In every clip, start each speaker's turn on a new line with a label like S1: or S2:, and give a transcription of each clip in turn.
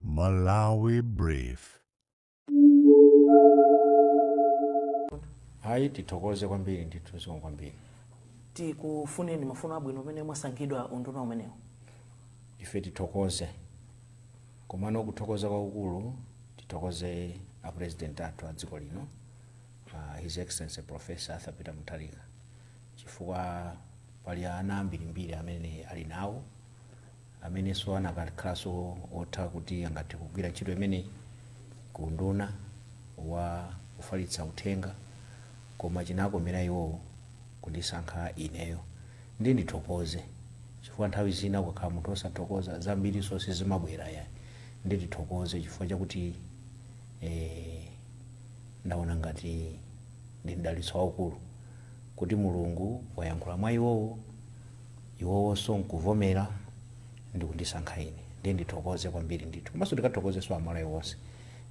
S1: Malawi
S2: Brief. ayi tithokoze kwambiri ndithu zikomo kwambiri tikufuneni
S3: mafuno abwino umene mwasankhidwa unduna umenewu ife
S2: tithokoze komano kuthokoza kwakukulu tithokoze a president athu a dziko lino uh, his excellency professor arthur peter mutharika chifukwa pali ana ambirimbiri amene ali nawo amenenso anakakhalanso otha kuti angathe kugwira ntchito imeneyi ku unduna wa kufalitsa uthenga koma chinakomera iwowo kundisankha ineyo. Ndiye ndithokoze chifukwa nthawi zina ukakhala munthu wosathokoza zambirinso sizimabwera yayi. Ndiye ndithokoze chifukwa chakuti eeh ndaona ngati ndi mdalitso waukulu kuti Mulungu wayankhula mwa iwowo. iwowonso nkuvomera ndikundisankha ine ndiye ndithokoze kwambiri ndithu komanso ndikathokozenso amalawi onse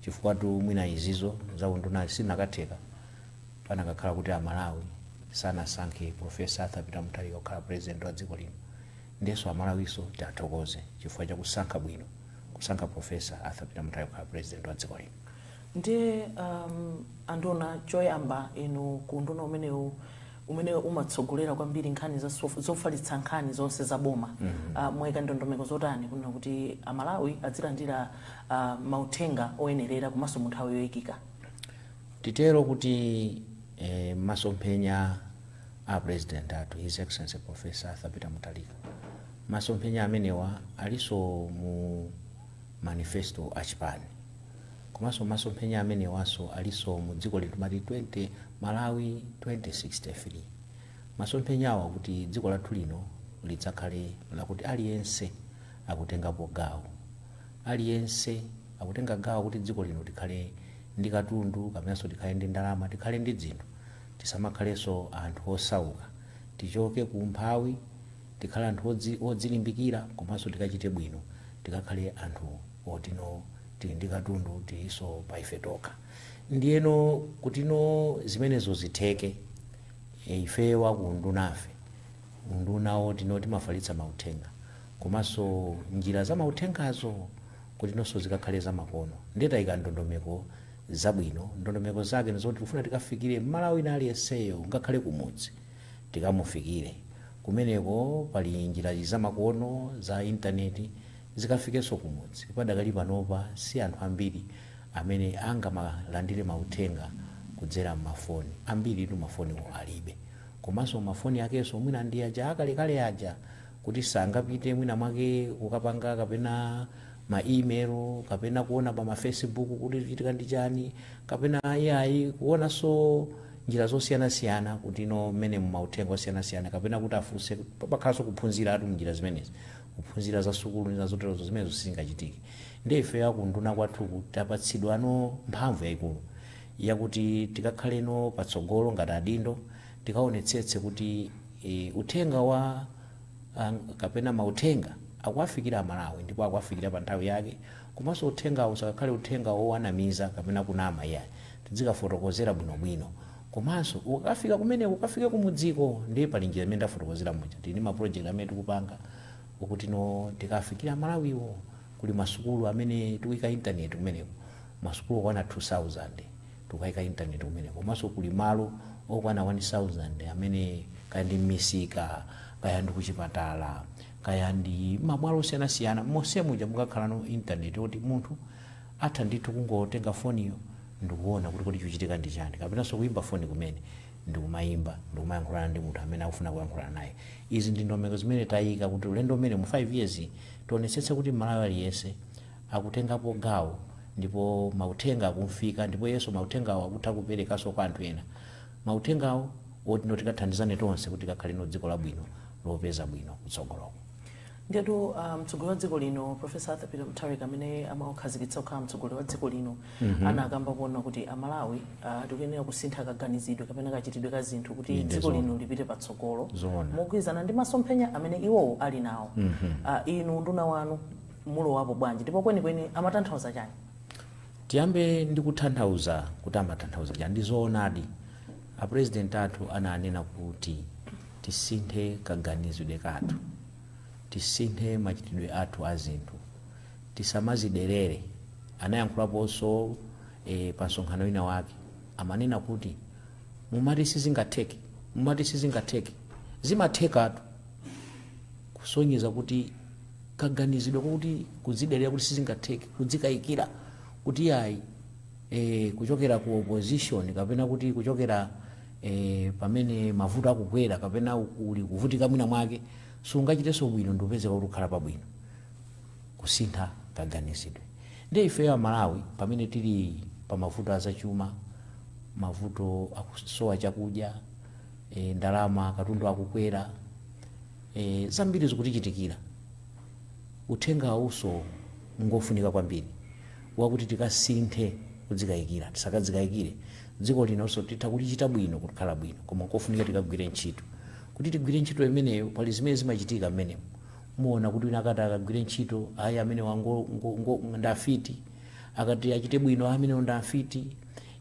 S2: chifukwatu mwina izizo za undunazi sizinakatheka panakakhala kuti amalawi sanasankhe professor arthur peter mutharika kukhala president wa dziko lino ndiyenso amalawinso tiathokoze chifukwa chakusankha bwino kusankha professor arthur peter mutharika kukhala president wa dziko lino ndiye
S3: um, anduna choyamba inu ku unduna umenewu umene umatsogolera kwambiri nkhani za sof- zofalitsa nkhani zonse za boma Ah, mwayika ndondomeko zotani kunena kuti amalawi adzilandira ah, mauthenga oyenerera komanso mu nthawi yoyikika titero
S2: kuti eh, masomphenya a president athu his excellency professor arthur peter mutharika masomphenya amenewa alinso mu manifesto a chipani Komanso masomphenya amenewanso alinso mu dziko lino timati 20 Malawi 2063. Masomphenyawo akuti dziko lathu lino lidzakhale lakuti aliyense akutengapo gawo. Aliyense akutenga gawo kuti dziko lino tikhale ndi katundu kapenanso tikhale ndi ndalama, tikhale ndi dzinthu. Tisamakhalenso anthu osauka. Tichoke ku umphawi, tikhale anthu odzilimbikira komanso tikachite bwino tikakhale anthu. otino tili ndi katundu tilinso pa ife tokha ndiyeno kutino zimenezo zitheke ifeyo aku undunafe unduna otino timafalitsa mauthenga komanso njira za mauthengazo kutinonso zikakhale zamakono ndiye taika ndondomeko zabwino ndondomeko zake ndi zoti tikufuna tikafikire mmalawi wina aliyenseyo ngakhale kumudzi tikamufikire kumeneko pali njirazi zamakono za intaneti zikafikenso kumudzi. Padakali panopa si anthu ambiri amene angamalandire mauthenga kudzera m'mafoni. Ambiritu mafoniwo alibe. Komanso mafoni akewonso mwina ndi aja akalekale aja, kuti sangapite mwinamwake kukapanga kapena ma email kapena kuona pa mafacebook kuti chikuchitika ndi chani kapena AI kuonanso njira zosiyanasiyana kutino mmene mauthenga osiyanasiyana kapena kuti afunse pakhalanso kuphunziratu m'njira zimenezi kuphunzira za sukulu ndi zoterozo zimenezo sizingachitike ndiye ife akunduna kwathu tapatsidwa no mphamvu yayikulu yakuti tikakhale no patsogolo ngati adindo tikaonetsetse kuti e, uthenga wa ang- kapena mauthenga akuwafikira amalawi ndipo akuwafikira pa nthawi yake komanso uthengawo usakakhale uthenga wowanamiza kapena kunama iyayi tidzikafotokozera bwinobwino Komanso ukakafika kumeneko ukafike kumudziko ndiye pali njira imene ndafotokozera muja. Tili ndi ma project amene tikupanga okutino tikawafikire a Malawiwo. Kuli ma sukulu amene tikuika internet kumeneko. Ma sukulu okwana 2000 tikukaika internet kumeneko. Komanso kuli malo okwana 1000 amene kaya ndi m'misika, kaya ndi kuchipatala, kaya ndi ma bwalo osiyanasiyana. Monse muja mukakhalano internet yoti munthu atha ndithu kungotenga foniyo ndikuona kuti kodi chikuchitika ndi chani, kapenanso kuyimba foni kumene ndikumayimba ndikumayankhulana ndi munthu amene akufuna kuyankhulana naye. Izi ndi ndondomeko zimene tayika kuti ulendo umenewu mu 5 years tionetsetse kuti M'malawi aliyense akutengapo gawo ndipo mauthenga akumfika ndipo iyenso mauthengawo akutha kuperekanso kwa anthu ena mauthengawo oti no tikathandizane tonse kuti tikakhale no dziko labwino lopeza bwino kutsogoloko. Ndiyetu
S3: ah, mtsogoleri wa dziko lino Professor Arthur Peter Mutharika amene amamukhazikitsa kukhala mtsogoleri wa dziko lino Mhm. anakamba kuona kuti amalawi ah, tikuyenera kusintha kaganizidwe kapena kachitidwe ka zinthu kuti Inde, dziko zoona. lino lipite patsogolo Zoona. mogwirizana ndi masomphenya amene iwowo ali nawo Mhm. Ah, inu unduna wanu mulowapo bwanji ndipo kwenikweni amatanthauza chani tiyambe
S2: ndi kutanthauza kuti amatanthauza chani ndi zoonadi apurezidenti athu ananena kuti tisinthe kaganizidwe kathu tisinthe machitidwe athu a zinthu Tisamadzidelere. Anayankhulaponso e, pa msonkhano wina wake. Amanena kuti, Mumati sizingatheke, mumati sizingatheke. Zimathekatu! Kusonyeza kuti kaganizidwe kakuti kudzidelera kuti sizingatheke, kudzikayikira kuti iyayi, e, kuchokera ku opposition kapena kuti kuchokera e, pamene mavuto akugwera kapena uli kuvutika mwina mwake, sungachitenso bwino ndikupezeka kuti ukhala pabwino. kusintha kaganizidwe. Ndiye ifeyo a Malawi pamene tili pa mavuto a zachuma, mavuto akusowa chakudya, e, ndalama katundu akukwera, e, zambiri zikutichitikira. Uthenga uwunso ngofunika kwambiri wakuti tikasinthe kudzikayikira, tisakadzikayikire. Dziko linonso titha kulichita bwino kukhala bwino koma nkofunika tikagwire ntchito. Kuti tigwire ntchito imeneyo pali zimene zimachitika mmenemo. muona kuti wina akati akagwire ntchito ayi amenewa ngo- ngo- ngo- ndi afiti akati achite bwino "Ah, amenewo ndi afiti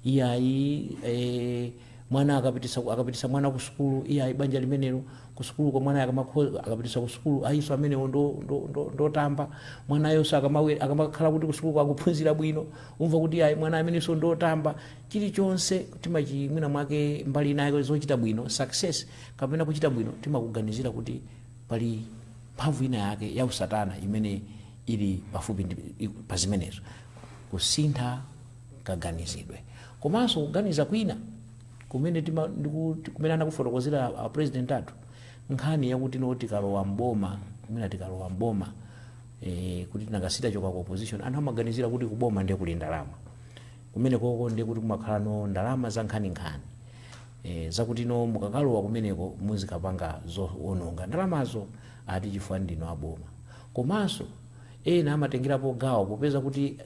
S2: iyayi eh, mwana akapitisa akapitisa mwana ku sukulu iyayi banja limenelo ku sukulu kwa mwana akamakho- akapitisa ku sukulu ayinso amenewo ndo- ndo- ndo- ndotamba mwanayonso akamawe- akamakhala kuti ku sukulu akuphunzira bwino umva kuti ayi mwana amenenso ndotamba chilichonse timachi mwina mwake mbali inayo zochita bwino success kapena kuchita bwino timakuganizira kuti Pali mphamvu inayake yausatana imene ili pafupi pa zimenezo, kusintha kaganizidwe. Komanso kuganiza kwina kumene tima, ndiku, kumene anakufotokozera a, a president athu nkhani yakuti no tikalowa m'boma mwina tikalowa m'boma e, kuti tinangasi tachoka ku opposition anthu amaganizira kuti kuboma ndiye kuli ndalama Kumenekoko ndiye kuti kumakhala no ndalama za nkhaninkhani e, zakuti no mukakalowa kumeneko muzikapanga zo ononga ndalamazo ati chifukwa ndinu a boma. Komanso ena amatengerapo gawo popeza kutino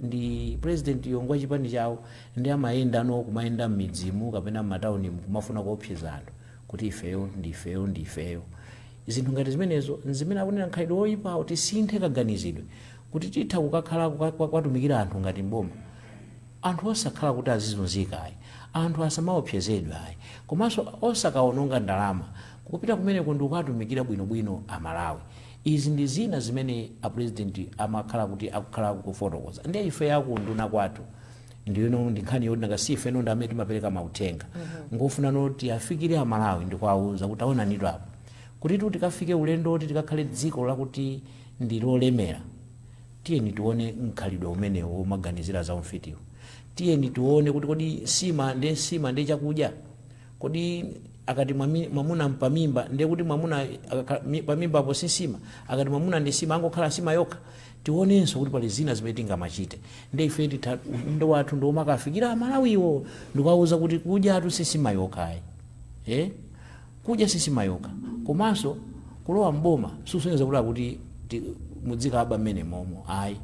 S2: pulezidentiyo ngwa chipani chawo ndiye amayenda no kumayenda m'midzimu kapena m'mataunimu kumafuna kuopseza anthu kuti ifeyo ndi ifeyo ndi ifeyo. Zinthu ngati zimenezo n'zimene akunena mkhalidwe woipawo, tisinthe kaganizidwe. kuti titha kukakhala kuwatumikira anthu ngati m'boma anthu osakhala kuti azizunzika ayi anthu asamaopsezedwe ayi komanso osakaononga ndalama kupita kumeneko ndikukatumikira bwinobwino a Malawi izi ndi zina zimene a president amakhala kuti akukhala akukufotokoza ndiye ife a ku unduna kwathu ndiyeno ndi nkhani yoti nanga si ifeno ndi amene timapereka mauthenga ngofunano oti afikire a Malawi ndikuwauza kuti aonanitu apa kuti tikafike ulendo oti tikakhale dziko lakuti ndi lolemera. Tiyeni tione mkhalidwe umenewu womaganizira za umfitiwu. Tiyeni tione kuti kodi nsima ndiye nsima ndiye chakudya? Kodi akati mwami- mwamuna mpamimba ndiye kuti mwamuna akakhala- mi- pamimbapo si nsima? Akati mwamuna ndi nsima angokhala nsima yokha? Tionenso kuti pali zina zimene tingamachite. Ndiye ife titha udindo wathu ndi womakafikira Amalawiwo ndikuwauza kuti kudyatu si nsima yokha ayi. Eh? Kudya sisima yokha komanso kulowa m'boma sikusonyeza kuti mudzikaba mmene momo ayi.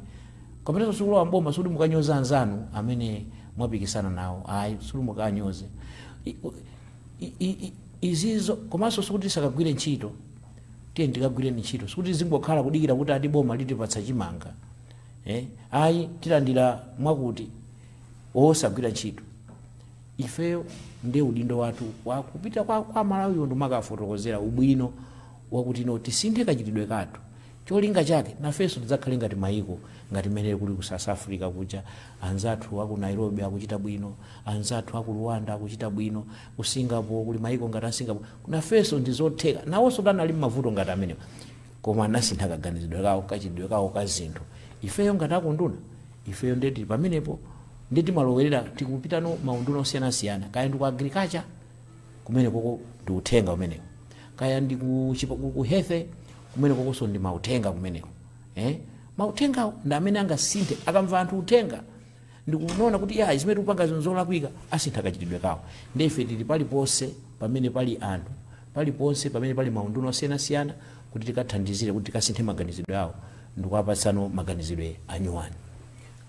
S2: Kapenanso sikulowa m'boma sikuti mukanyoze anzanu amene mwapikisana nawo ayi sikuti mukawanyoze. Izizo komanso sikuti tisakagwire ntchito tiyeni tikagwireni ntchito sikuti tizingokhala kudikira kuti ati boma litipatsa chimanga eh, ayi tilandira mwakuti osagwira ntchito. ifeyo nde udindo wathu wa kupita kwa, kwa malawiwo ndimakafotokozera ubwino wakuti no tisinthe kachitidwe kathu cholinga chake nafenso tidzakhale ngati mayiko ngati mmene kuli ku south africa kuja anzathu aku nairobi akuchita bwino anzathu aku rwanda akuchita bwino ku singapore kuli mayiko ngati a singapore nafenso ndizotheka nawonso anali mmavuto ngati amenewa koma anasintha kaganizidwe kawo kachitidwe kawo ka zinthu ifeyo ngati akunduna ifeyo nde tili pamenepo nde timalowerera tikupitano maunduna osiyanasiyana kaya ndi ku agriculture kumene koko ndi uthenga umenewo kaya ndi ku chipa- ku- ku health kumene kokonso ndi mauthenga kumeneko eh? mauthengawo ndi amene angasinthe akamva anthu uthenga ndikuona kuti ayi zimene tikupangazo nzolakwika asintha kachitidwe kawo nde ife tili paliponse pamene pali anthu paliponse pamene pali maunduna osiyanasiyana kuti tikathandizire kuti tikasinthe maganizidwe awo ndikuwapatsano maganizidwe anyuwani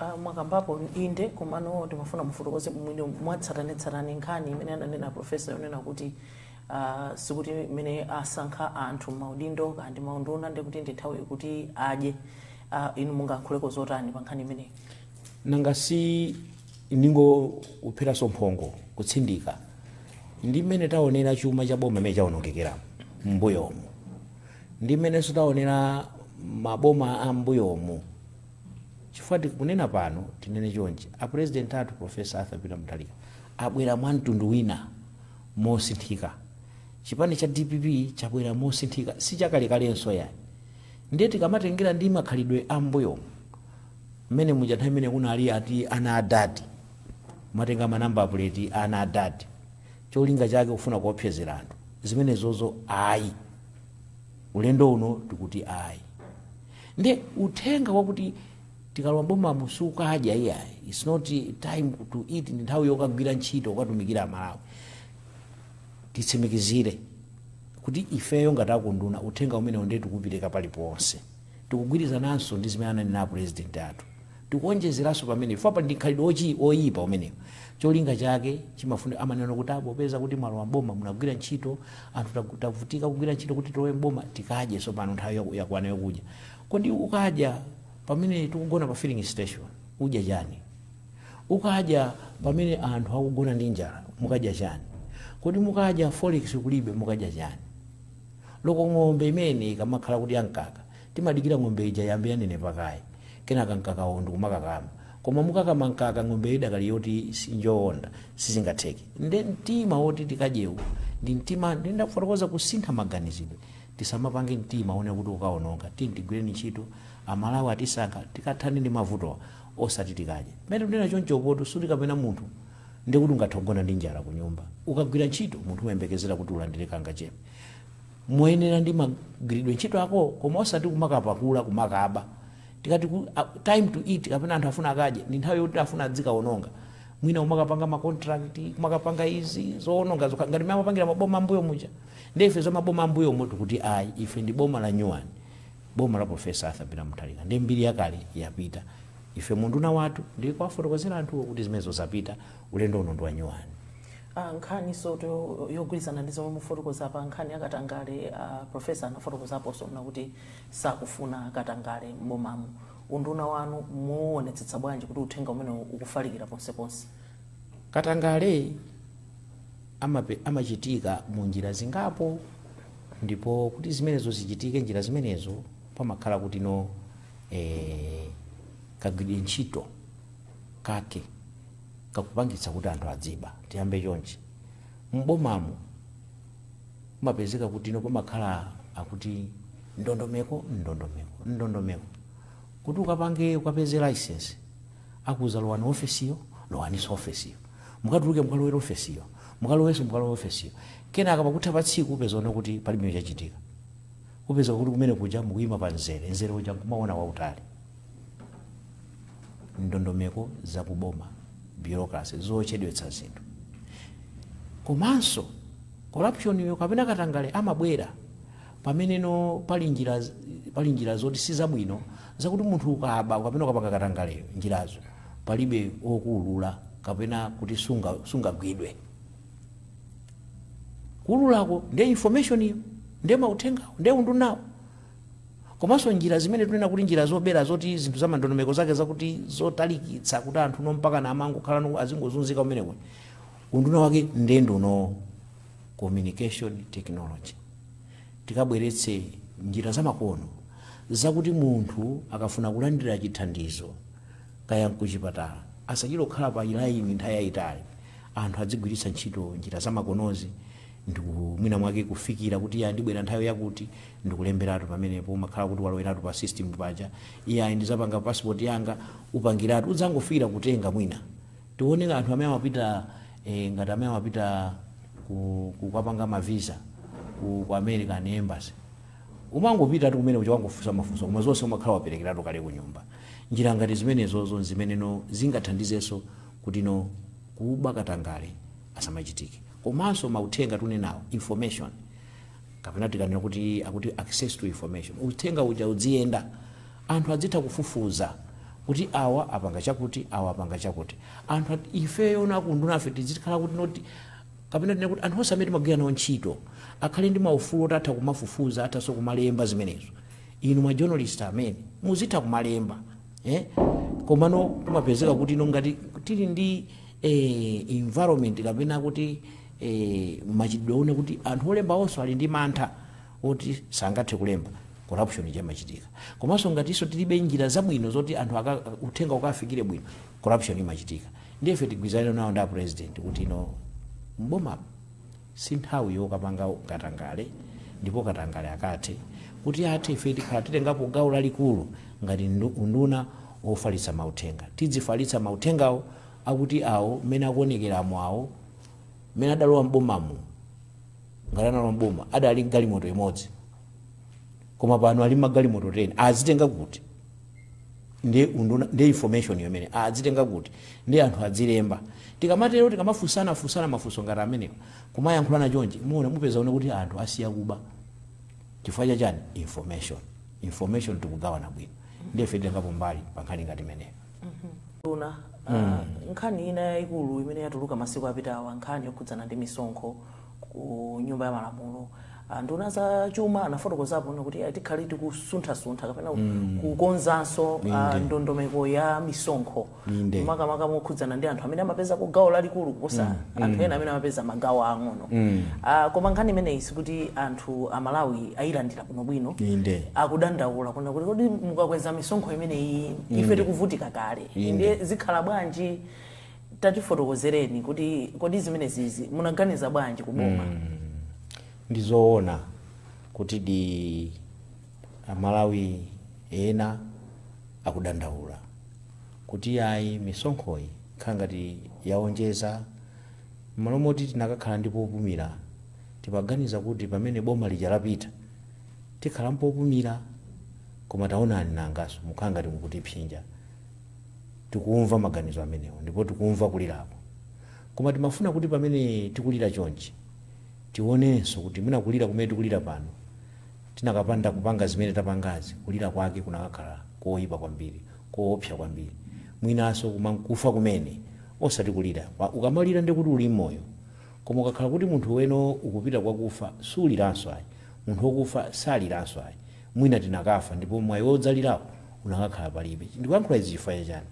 S2: Ah,
S3: mwakambapo inde komano ndimafuna mufotokoze mwina mwatsatanetsatane nkhani imene ananena profesa yonena kuti ah, sikuti mmene asankha anthu maudindo kaya ndi maunduna ndikuti ndi nthawi kuti adye uh, inu mungayankhulepo zotani pa nkhani imeneyi nanga
S2: si ndingopheranso mphongo kutsindika ndi mmene taonera chuma cha boma mmene chaonongekera m'mbuyomu ndi mmenenso taonera maboma a m'mbuyomu chifukwa tikunena pano tinene chonchi apurezidenti athu profesa arthur peter mutharika abwera mwa mtundu wina mosinthika chipani cha dpp chabwera mosinthika si chakalekalenso yayi Ndiye tikamatengera ndi makhalidwe a m'mbuyomu, mmene muja nthawi imene kunali ati ana a dadi, kumatenga ma number plate a ana a dadi cholinga chake kufuna kuopsezera anthu, zimenezozo ayi. Ulendo uno tikuti ayi. Ndiye uthenga wakuti tikalowa m'bomamu sikukadya iyayi, it's not time to eat, ndi nthawi yokagwira ntchito kukatumikira Amalawi. titsimikizire kuti ifeyo ngati akunduna uthenga umenewo ndiye tikuupereka paliponse. Tikugwirizananso ndi zimene ananena apulezidenti athu. Tikuwonjezeranso pamenepo chifukwa pali ndi mkhalidwe wochi- woyipa umenewo. Cholinga chake chimafuna amanena kuti ah, popeza kuti mwalowa m'boma munagwira ntchito anthu tagu- tavutika kugwira ntchito kuti tilowe m'boma tikadye tsopano nthawi yaku- yakwana yokudya. Kodi ukadya pamene tikugona pa filling station udya chani? Ukadya pamene anthu akugona ndi njala mukadya chani? Kodi mukadya forex kulibe mukadya chani? Olo ng'ombe imene ikamakhala kuti ya mkaka timadikira ng'ombe ija iyambe yanenepa kaye kenaka mkakawo ndikumakakama koma mukakama mkaka ng'ombeyo idakali yoti si njoonda sizingatheke nde mtima woti tikadyewu ndi mtima nde ndafotokoza kusintha maganizidwe tisamapange mtima wonena kuti ukaononga tiyeni tigwireni ntchito amalawi atisankha tikathane ndi mavutowa osati tikadye. Pamene ndikunena chonchopotu suti kapena munthu ndiye kuti ungathe kugona ndi njala kunyumba. Ukagwira ntchito, munthu umayembekezera kuti ulandire kangachepe moyenera ndi magwiridwe ntchito ako koma osati kumakapakula, kumakaba. Tikati ku, a, time to eat kapena anthu afuna akadye ndi nthawi yoti afuna adzikawononga. Mwina kumakapanga ma contract, kumakapanga izi, zowononga zokha ngati mmene amapangira maboma a mmbuyo muja. Ndiye ife za maboma a mmbuyomu tikuti ayi, ife ndi boma la nyuwani. boma la professor arthur peter mutharika ndi mbiri yakale yapita ife munduna wathu ndi kuwafotokozera anthuwo kuti zimenezo zapita ulendo uno ndi wa nyuwani Ah, nkhani
S3: zoto yogwirizana ndi zomwe mufotokoza pa nkhani ya katangale ah, profesa anafotokozapo zonena kuti sakufuna katangale m'bomamu unduna wanu muwonetsetsa bwanji kuti uthenga umenewu ukufalikira ponseponse katangale
S2: amape, amachitika mu njira zingapo, ndipo kuti zimenezo zichitike njira zimenezo pamakhala kuti no eh, kagwiridwe ntchito kake kakupangitsa kuti anthu adziba. Tiyambe chonchi, m'bomamu umapezeka kuti no pamakhala akuti ndondomeko ndondomeko ndondomeko kuti ukapange ukapeze license akuuza lowani ofesiyo lowaniso ofesiyo Mukatuluka mukalowere ofesiyo, mukalowanso mukalowe ofesiyo. Kenaka pakutha pa tsiku upeza zona kuti palibe chachitika. Upeza kuti kumene kuja mukuyima pa mzere, mzere uja nkumawona wautali. Ndondomeko za ku boma, bureaucracy, zochedwetsa zinthu. Komanso corruption yo kapena katangale amabwera pamene no pali njira, pali njira zoti si zabwino zakuti munthu ukaba kapena ukapanga katangaleyo, njirazo. palibe wokuulula kapena kuti sunga sungagwidwe kuululako ndi information iyo ndi mauthengawo ndi undunawo komanso njira zimene tunena kuti njira zobera zoti zinthu za mandondomeko zake zakuti zotalikitsa kuti anthu no mpaka na amangokhala no azingozunzika kumeneko unduna wake ndiye ndi uno communication technology tikabweretse njira zamakono zakuti munthu akafuna kulandira chithandizo kaya nkuchipatala asachite kukhala pa line nthawi yayitali anthu adzigwiritsa ntchito njira zamakonozi ndiku mwina mwake kufikira kuti iya ndibwera nthawi yakuti ndikulemberatu pamenepo umakhala kuti waloweratu pa system paja iya ndizapanga passport yanga upangiratu udzangofikira kutenga mwina tione anthu amene amapita eh, ngati amene amapita ku- kukapanga mavisa ku, ku american embassy Umangopitatu kumene kuja akangofunsa mafunso koma zonse umakhala waperekeratu kale kunyumba. Njira ngati zimenezozo n'zimene zingathandizenso kutino kuba, katangale asamachitike. Komanso mauthenga tikunenawo, information, kapena tikanena kuti akuti access to information, uthenga uja udziyenda. Anthu adzitha kufufuza kuti awa apanga chakuti, awa apanga chakuti. Anthu, ifeyono a kuundunafe tidzikhala kutino. Kapena tinene kuti anthu onse amene timagwira nawo ntchito akhale ndi maufulu oti atha kumafufuza, athanso kumalemba zimenezo. Inu ma journalist amene, muzitha kumalemba eh, komano kumapezeka kuti no ngati tili ndi eh, environment kapena kuti eh, machitidwe ena kuti anthu olemba onse ali ndi mantha oti sangathe kulemba corruption imachitika komanso ngatinso tilibe njira zabwino zoti anthu aka, uthenga ukafikire bwino corruption imachitika ndiye ife tigwirizane nawo ndi a president kuti ino m'bomamu si nthawi yokapanga katangale ndipo katangale akathe kuti athe ife tikhala titengapo gawo lalikulu ngati ndu- unduna wofalitsa mauthenga tidzifalitsa mauthengawo akuti awo mmene akuonekeramo awo mmene adalowa m'bomamu ngati analowa m'boma adali galimoto imodzi koma pano ali magalimoto 10 azitenga kuti ndi unduna ndi information yomwe azitenga kuti ndi anthu adzilemba tikamatero tikamafunsana funsana mafunso ngati amenewa kumayankhulana chonchi muona mupeza kuti anthu asiya kuba chifukwa chachani information information tikugawana bwino ndife titengapo mbali pa nkhani ngati imeneyo nduna
S3: uh, nkhani ina yayikulu imene yatuluka masiku apitawa nkhani yokhudzana ndi misonkho ku nyumba ya malamulo Ah, nduna za chuma anafotokozapo kunena kuti ah, tikhale tikusunthasuntha kapena kukonzanso ah, ndondomeko ya misonkho Inde. makamaka mokhudzana ndi anthu amene amapezako gawo lalikulu kuposa anthu ena amene amapeza magawo ang'ono Ah, koma nkhani imeneyi sikuti anthu amalawi ayilandira bwinobwino Inde. akudandaula kunena kuti kodi mukakweza misonkho imeneyi ife tikuvutika kale ndiye zikhala bwanji tatifotokozereni kuti kodi zimenezizi munaganiza bwanji ku
S2: boma ndizoona kuti di amalawi ena akudandaula kuti ayi misonkhoyi ikukhala ngati yaonjeza mmalo moti tinakakhala ndi popumira timaganiza kuti pamene boma lija lapita tikhala mpopumira koma taonani nanganso mukukhala ngati mukutiphinja Tikumva maganizo amenewo ndipo tikumva kulirako. Koma timafuna kuti pamene tikulira chonchi, tionenso kuti mwina kulira kumene tikulira pano, tinakapanda kupanga zimene tapangazi, kulira kwake kunakakhala koipa kwambiri, koopsa kwambiri, mwinanso kumakufa kumene, osati kulira kwa. Ukamalira ndiye kuti uli moyo. Koma ukakhala kuti munthuwe no ukupita kwakufa, suliranso ayi. Munthu wokufa saliranso ayi. Mwina tinakafa ndipo mwayi wodzalirawo unakakhala palibe. Ndikuyankhula izi chifukwa cha chani?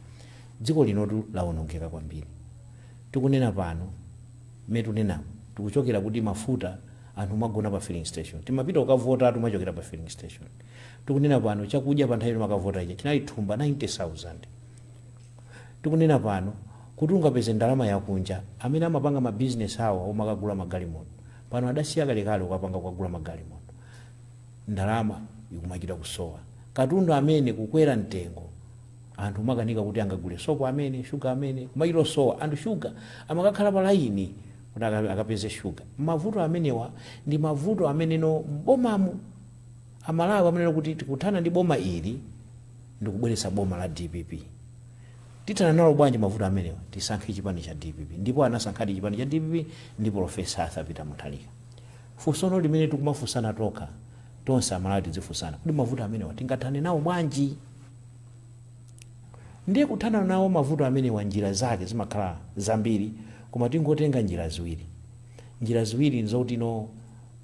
S2: Dziko linotu lawonongeka kwambiri. Tikunena pano, mmene tikunenamo, tikuchokera kuti mafuta anthu kumagona pa filling station. Timapita kukavotatu kumachokera pa filling station. Tikunena pano, chakudya pa nthawi imene timakavota ija chinali thumba 90,000. Tikunena pano, kuti ungapeze ndalama yakunja, amene amapanga ma business awo omakagula magalimoto, pano adasiya kalekale kukapanga kukagula magalimoto. ndalama ikumachita kusowa, katundu amene kukwera mtengo, anthu kumakanika kuti angagule sopo amene, sugar amene, kumachita kusowa, anthu sugar amakakhala pa layini kuti akapeze sugar, mavuto amenewa ndi mavuto amene no m'bomamu amalawi amanena kuti tikuthana ndi boma ili ndikubweretsa boma la dpp, tithana nawo bwanji mavuto amenewa, tisankhe chipani cha dpp ndipo anasankhadi chipani cha dpp ndi polofesa Arthur Peter Mutharika. Funsono limene tikumafunsana tokha, tonse amalawi tidzifunsana, kodi mavuto amenewa tingathane nawo bwanji? Ndiye kuthana nawo mavuto amenewa njira zake zimakhala zambiri koma tingotenga njira ziwiri. Njira ziwiri nzokutino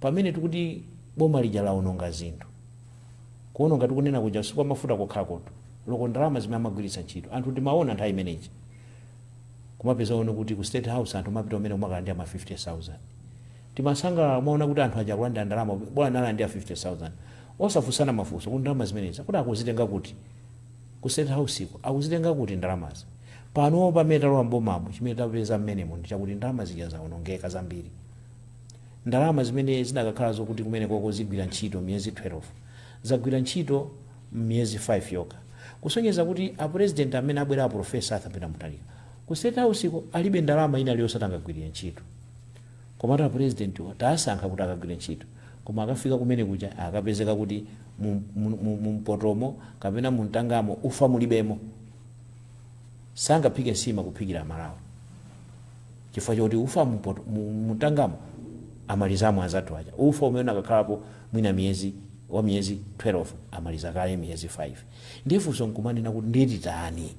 S2: pamene tikuti boma lija laononga zinthu, kuononga tikunena kuja si kwa mafuta kokhakhakotu, loko ndalama zimene amagwiritsa ntchito, anthu timaona nthawi imene ija kumapezano kuti ku state house anthu omapita kumeneko kumakalandira ma 50,000. Timasangalala kumaona kuti anthu aja akulandira ndalama ok bola analandira 50,000. Osafunsana mafunso kuti ndalama zimenezi akuti akuzitenga kuti? Ku state house ko akuzitenga kuti ndalamazi? Panopa pamene talowa m'bomamu chimene tapeza m'menemo ndi chakuti ndalama zija zaonongeka zambiri. Ndalama zimene zinakakhala zokuti kumenekoko zigwira ntchito miyezi 12 zagwira ntchito miyezi 5 yokha. Kusonyeza kuti a president amene abwera a Prof. Arthur Peter Mutharika ku state house ko alibe ndalama ina iliyonse yoti angagwirire ntchito. Komatu apulezidentiwa tawasankha kuti akagwire ntchito koma akafika kumene kuja akapezeka kuti mu mpotomo kapena mu mtangamo ufa mulibemo. Sangaphike nsima kuphikira amalawi chifukwa choti ufa mu mpoto, mu mtangamo amalizamo anzathu aja. Ufa umene unakakhalapo mwina miyezi wa miyezi 12 amaliza kale miyezi 5. Ndiye funso nkumanena kuti ndiye titani?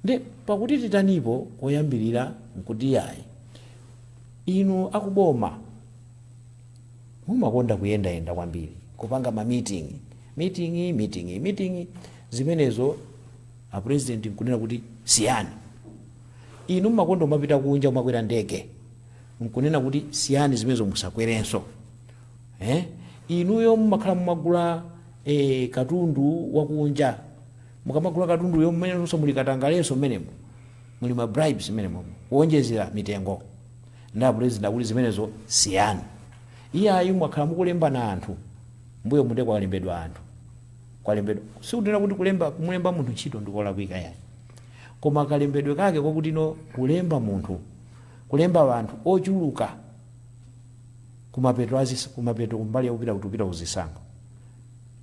S2: Ndiye pakuti titanipo koyambirira nkuti yayi, inu akuboma mumakonda kuyendayenda kwambiri, kupanga ma meeting, meeting, meeting, meeting, zimenezo a president nkunena kuti siyani. Inu mumakonda kumapita kunja kumakwera ndege nkunena kuti siyani zimenezo musakwerenso. Eh? Inuyo mumakhala mumagula eh, katundu wakunja mukamagula katunduyo mmenenso muli katangalenso mmenemo muli ma bribes mmenemo kuonjezera mitengo nde a president akuti zimenezo siyani iyayi mwakhala mukulembana anthu mbuyomu nde kwalembedwa anthu kwalembedwa sikuti nnena kuti kulemba kumulemba munthu ntchito ndikolakwika yayi koma kalembedwe kake kwakuti no kulemba munthu kulemba anthu ochuluka kumapeto azis- kumapeto kumbali yakupita kuti tupita kuzisankho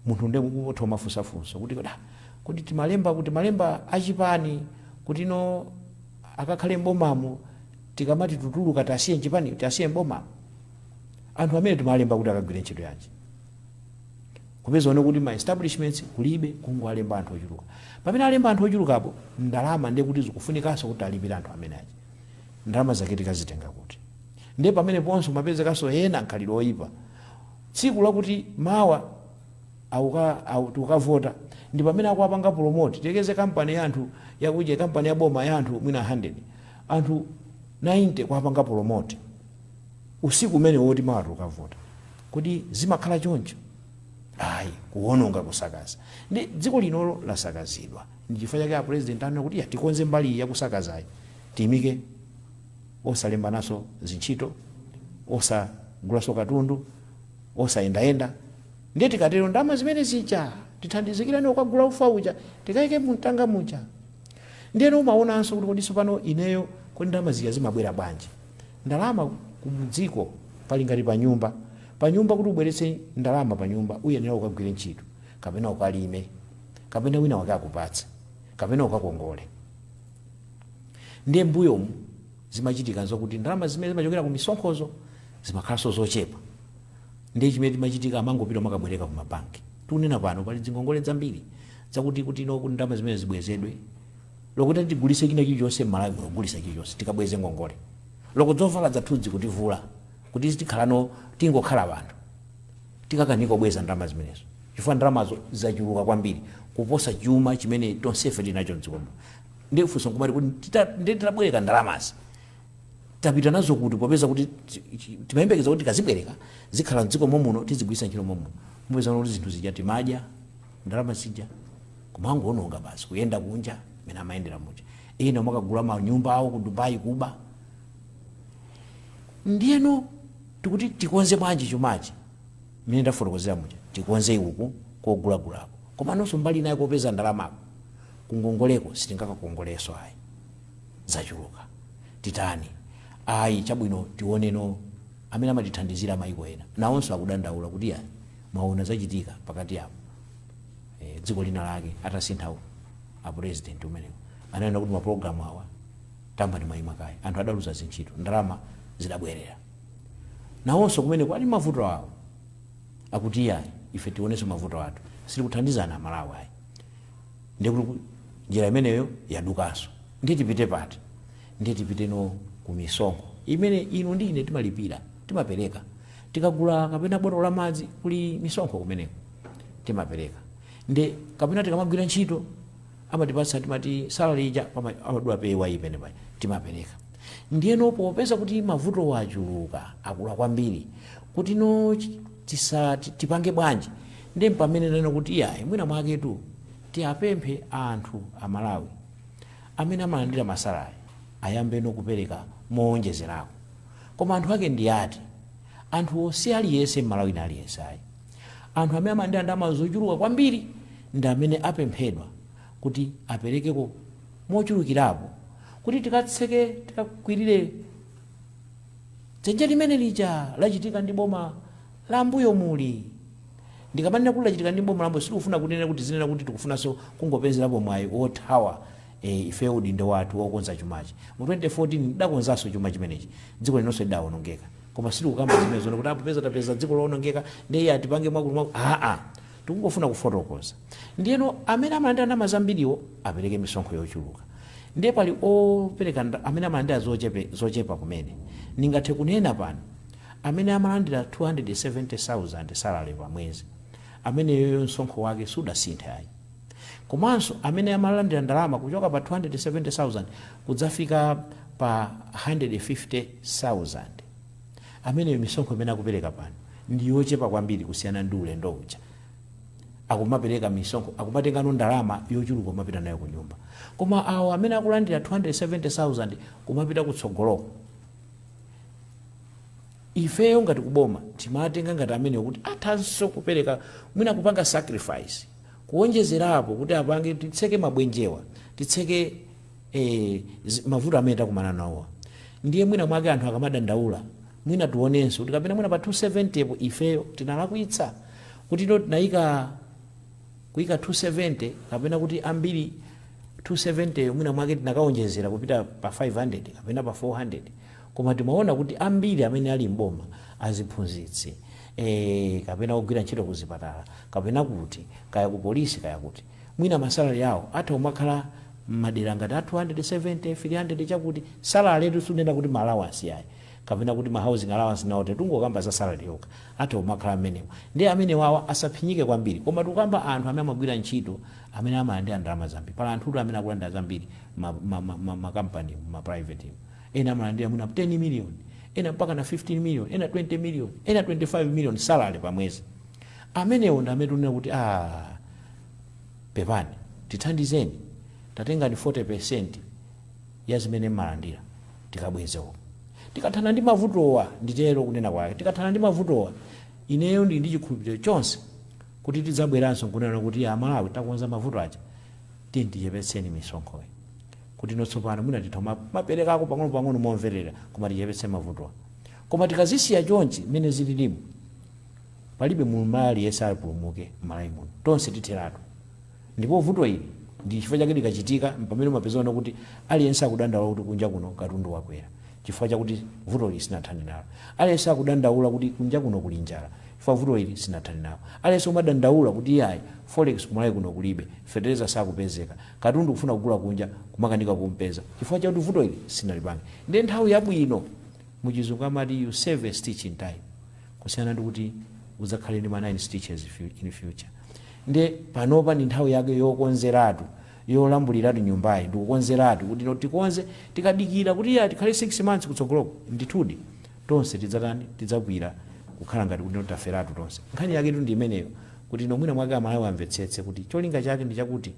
S2: munthu nde utha kumafunsa funso kuti kodi ah kodi timalemba akuti timalemba achipani kuti no akakhale m'bomamo tikamati tutuluka tasiye mchipani tasiye m'bomamo anthu amene timalemba kuti akagwire ntchito yanji kupeza wona kuti ma establishments kulibe kungowalemba anthu ochuluka pamene alemba anthu ochulukapo ndalama nde kuti zikufunikanso kuti alipire anthu amene aja ndalama zake tikazitenga kuti nde pamene ponso mmapezekanso ena mkhalidwe oyipa tsiku lakuti mawa akuka aku tikukavota ndi pamene akuwapanga promote tiyerekeze company ya anthu yakuja company ya boma ya anthu mwina 100 anthu 90 kuwapanga promote usiku umene woti mawa tikukavota kodi zimakhala choncho ayi kuwononga kusakaza ndi dziko linolo lasakazidwa ndi chifukwa chake a president anena kuti ya tikonze mbali iyi yakusakazayi tiyiimike osalembananso zintchito, osagulanso katundu, osayendayenda. Ndiye tikatero ndalama zimene zija tithandizikirane kukagula ufa uja tikaike mumtanga muja. Ndiyeno umaonanso kuti kodi tsopano ineyo kodi ndalama zija zimabwera bwanji? Ndalama kumdziko pali ngati panyumba. Panyumba kuti ubweretse ndalama panyumba uyenera ukagwire ntchito kapena ukalime kapena winawake akupatse kapena ukakongole. Ndiye mbuyomu zimachitika zokuti ndalama zimene zimachokera ku misonkhozo zimakhalanso zochepa. Ndiye chimene chimachitika amangopita kumakabwereka ku mabanki. Tikunena pano pali dzingongole dzambiri zakuti kuti no kuti ndalama zimene zibwezedwe. Olo kutati tigulise china chilichonse m'Malawi muno kugulisa chilichonse tikabweze ngongole. Olo ko dzovala dzathudzi kutivula kuti tikhaleno tingokhala banthu. Tikakanika kubweza ndalama zimenezo chifukwa ndalamazo zachuluka kwambiri kuposa chuma chimene tonsefe tili nacho m'dziko muno. Ndiye funso nkumati kuti tita- ndiye titabwereka ndalamazi tapita nazo kuti popeza kuti ti- ti- timayembekeza kuti tikazibwereka zikhala mdziko momuno tizigwiritsa ntchito momuno mupeza kuti zinthu zija timadya ndalama zija kumangoononga basi kuyenda kunja mene amayendera muja ena amakagula manyumba awo ku dubai kuba ndiyeno tikuti tikonze bwanji chumachi mene ndafotokozera muja tikonze uku kogulagulako komanso mbali inayi kopeza ndalamako kungongoleko sitingakakongoleso ayi zachuluka titani ayi chabwino tioneno amene amatithandizira mayiko ena nawonso akudandaula kuti ya mwaona zachitika pakati apo e, dziko lina lake atasintha u- a president umenewo ananena kuti mapulogalamu awa tayambani mwayima kaye anthu adaluza zintchito ndalama zidabwerera nawonso kumeneko ali mavuto awo akuti ya ife tionenso mavuto athu sitikuthandizani Amalawi ayi Ndiye kuti ku- njira imeneyo yadukanso. Ndiye tipite pati? Ndiye tipiteno ku misonkho imene inu ndi ine timalipira, timapereka. Tikagula kapena botolo la madzi kuli misonkho kumeneko timapereka. Ndiye kapena tikamagwira ntchito amatipatsa timati salary ija pama- amadula payee imene paja timapereka. Ndiyeno popeza kuti mavuto achuluka akula kwambiri kutino chi- tisa ti- tipange bwanji Ndiye mpamene nanena kuti iyayi mwina mwaketu tiwapemphe anthu a Malawi amene amalandira ma salary ayambeno kupereka moonjezerako. Koma anthu ake ndi ati? Anthuwo si aliyense Mmalawi wina aliyense ayi. Anthu amene amalandira ndalama zochuluka kwambiri ndi amene apemphedwa kuti aperekeko mochulukirapo kuti tikatseke, tikakwirire dzenje limene lija lachitika ndi boma. la mbuyomuli. Ndikamanena kuti lachitika ndi boma la mbuyo sitikufuna kunena kuti tizinena kuti tikufunanso kungopezerapo mwayi wothawa ee ifeyo udindo wathu wokonza chumachi mu 2014 tidakonzanso chuma chimenechi dziko linonso lidawonongeka koma sitikukamba zimenezo kuti aa popeza tapeza dziko lowonongeka ndiye iya tipange mwakuti mwakuti aa tikungofuna kufotokoza ndiyeno amene amalandira ndalama zambiriwo apereke misonkho yochuluka ndiye pali opereka nda- amene amalandira zochepe- zochepa kumene ndingathe kunena pano Amene amalandira 270,000 salary pa mwezi ameneyoyo msonkho wake sudasinthe ayi. Komanso amene amalandira ndalama kuchoka pa 270,000 kudzafika pa 150,000 ameneyo misonkho imene akupereka pano ndi yochepa kwambiri kusiyana ndi ulendo uja akumapereka misonkho akumatenganso ndalama yochuluka kumapita nayo kunyumba. Koma awo amene akulandira 270,000 kumapita kutsogoloko. ifeyo ngati kuboma timatenga ngati amenewo kuti athanso kupereka mwina kupanga sacrifice kuonjezerapo kuti apange titseke mabwenjewa titseke eh, zi- mavuto amene takumana nawowa ndiye mwina mwake anthu akamadandaula mwina tionenso kuti kapena mwina pa 270 po ifeyo tinalakwitsa kuti no tinayika kuika 270 kapena kuti ambiri 270 yo mwina mwake tinakawonjezera kupita pa 500 kapena pa 400 koma timaona kuti ambiri amene ali m'boma aziphunzitsi e, kapena ogwira ntchito ku zipatala kapena kuti kaya ku polisi kaya kuti mwina masalari awo atha kumakhala mmadera ngati a 270 300 chakuti salary letu sunena kuti ma allowance yayi kapena kuti ma housing allowance nawo titungokamba za salary yokha atha kumakhala mmenemo ndiye amenewawa asaphinyike kwambiri koma tikukamba anthu amene amagwira ntchito amene amalandira ndalama zambiri pali anthutu amene akulandira zambiri mma, ma, ma, ma, ma company mu ma private mu ena amalandira mwina 10 million ena mpaka na 15 million ena 20 million ena 25 million salary pa mwezi amenewo ndi amene tunena kuti ah pepani tithandizeni tatengani 40 percent ya zimene mmalandira. Tikabweze umu. Tikathana ndi mavutowa, nditero kunena kwake, tikathana ndi mavutowa, ineyo ndili ndi chikhulupiriro chonse kuti tidzabweranso nkunena kuti a Malawi takonza mavuto aja, tiyeni tichepetseni misonkhoyi. Kuti no tsopano mwina titha kuma- kumaperekako pang'onopang'ono momverera koma tichepetse mavutowa. Koma tikazisiya chonchi mmene zililimu, palibe Mmalawi aliyense apulumuke m'Malawi muno. Tonse titheratu. Ndipo vuto ili ndi chifukwa chake likachitika mpamene umapezano kuti aliyense akudandaula kuti kunja kuno katundu wakwera chifukwa chakuti vuto ili sinathane nalo. Aliyense akudandaula kuti kunja kuno kuli njala chifukwa vuto ili sinathane nalo. Aliyense umadandaula kuti iyayi forex ku Malawi kuno kulibe, fetereza sakupezeka, katundu kufuna kugula kunja kumakanika kumpeza chifukwa chakuti vuto ili sitinalipange. Ndiye nthawi yabwino mu chizungu amati you save a stitch in time. kusiyana ndikuti udzakhale ndi ma 9 stitches in future nde panopa ndi nthawi yake yokonzeratu yolambuliratu nyumbayi ndikukonzeratu kuti no tikonze tikadikira kuti iyayi tikhale 6 months kutsogoloko ndithudi tonse tidzatani tidzabwira kukhala ngati kuti no taferatu tonse nkhani yaketu ndi imeneyo kuti no mwina mwake amalawi amvetsetse kuti cholinga chake ndi chakuti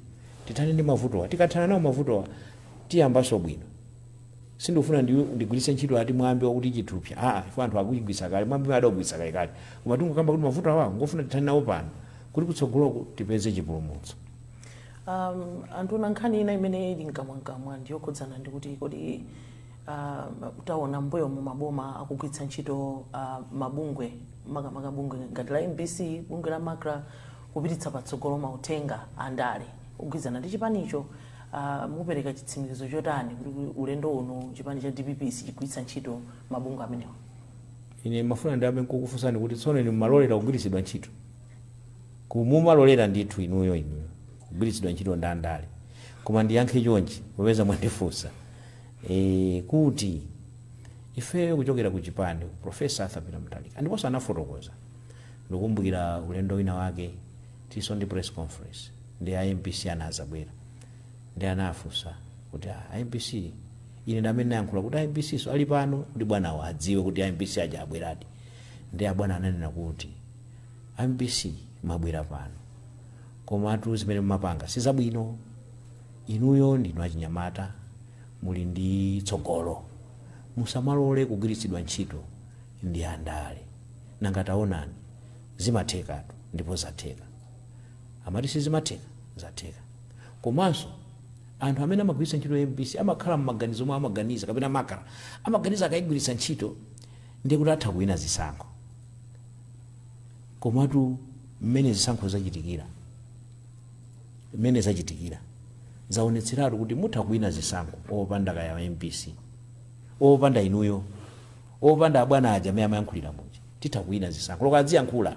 S2: tithane ndi mavutowa tikathana nawo mavutowa tiyambanso bwino sindikufuna ndi- ndigwiritse ntchito ati mwambi wakuti chithupsa aa chifukwa anthu akuchigwiritsa kale mwambi adagwiritsa kale kale koma tingokamba kuti mavuto awawa ngofuna tithane nawo pano kuti kutsogoloku tipeze chipulumutso um,
S3: anthu ona nkhani ina imene ili mkamwamkamwa ndiyokhudzana ndi kuti kodi uh, taona mbuyomu maboma akugwiritsa ntchito uh, mabungwe makamaka bungwe ngati la mbc bungwe la macra kupititsa patsogolo mauthenga andale ogwirizana ndi chipanicho Uh, mukupereka chitsimikizo chotani kuti ulendo uno chipani cha dpp sichigwiritsa ntchito mabungwe amenewa ine
S2: mmafuna ndiyambe nkukufunsani kuti tsono inu mumalolera kugwiritsidwa ntchito kumumalolera ndithu inuyo inuyo kugwiritsidwa ntchito ndi andale koma ndiyankhe chonchi popeza mwandifunsa e, kuti ifeyo kuchokera ku chipani profesa arthur peter mutharika ndiponso anafotokoza ndikumbukira ulendo wina wake Tilinso ndi press conference ndi a mbc anazabwera ndi anafunsa kuti a a mbc ine ndamene nayankhula kuti a mbc so ali pano kuti bwanawo adziwe kuti a mbc aja abweradi ndi abwana ananena kuti a mbc mwabwera pano komatu zimene mumapanga sizabwino inuyo ndinu achinyamata muli ndi tsogolo musamalole kugwiritsidwa ntchito ndi andale nanga taonani zimathekatu ndipo zatheka amati sizimatheka zatheka komanso anthu amene amagwiritsa ntchito mbc amakhala mmaganizo omwe amaganiza kapena macra amaganiza akayigwiritsa ntchito ndiye kuti atha kuwina zisankho komatu mmene zisankho zachitikira mmene zachitikira zaonetseratu kuti mutha kuwina zisankho opanda kaya mbc opanda inuyo opanda abwana aja amene amayankhulira muja titha kuwina zisankho loko adziyankhula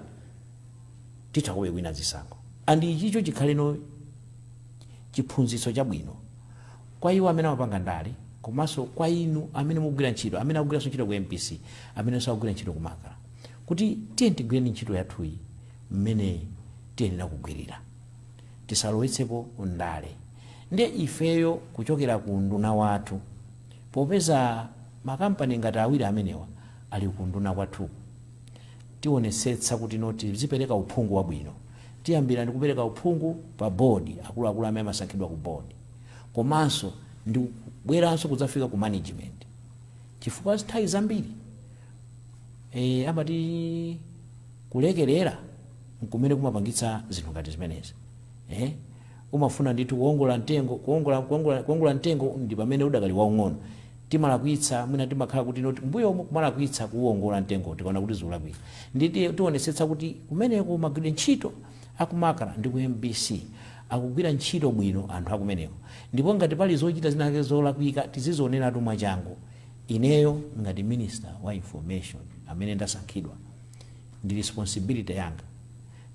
S2: titha kobe kuwina zisankho and ichicho chikhaleno chiphunzitso chabwino kwa iwo amene amapanga ndale komanso kwa inu amene mukugwira ntchito amene akugwiranso ntchito ku mbc amenenso akugwira ntchito ku macra kuti tiyeni tigwireni ntchito yathuyi mmene tiyenera kugwirira tisalowetsepo ndale ndiye ifeyo kuchokera ku unduna wathu popeza makampani ngati awiri amenewa ali ku unduna kwathuku tionetsetsa kuti no tizipereka uphungu wabwino. Tiyambira ndi kupereka uphungu pa board, akuluakulu amene amasankhidwa ku board komanso ndi kubweranso kudzafika ku management chifukwa nthawi zambiri eh, amati kulekerera nkumene kumapangitsa zinthu ngati zimenezi eh? Umafuna ndithu kuwongola mtengo, kuwongola, kuwongola, kuwongola mtengo ndi pamene udakali waung'ono. Timalakwitsa, mwina timakhala kuti no m'mbuyomu kumalakwitsa kuuwongola mtengo tikaona kuti zikulakwika. Ndiye tionetsetsa kuti kumeneko magwiridwe ntchito a ku Macra ndi ku mbc akugwira ntchito bwino anthu a kumeneko. Ndipo ngati pali zochita zina zake zolakwika tizizioneratu mwachangu. Ineyo ngati Minister wa Information amene ndasankhidwa, ndi responsibility yanga.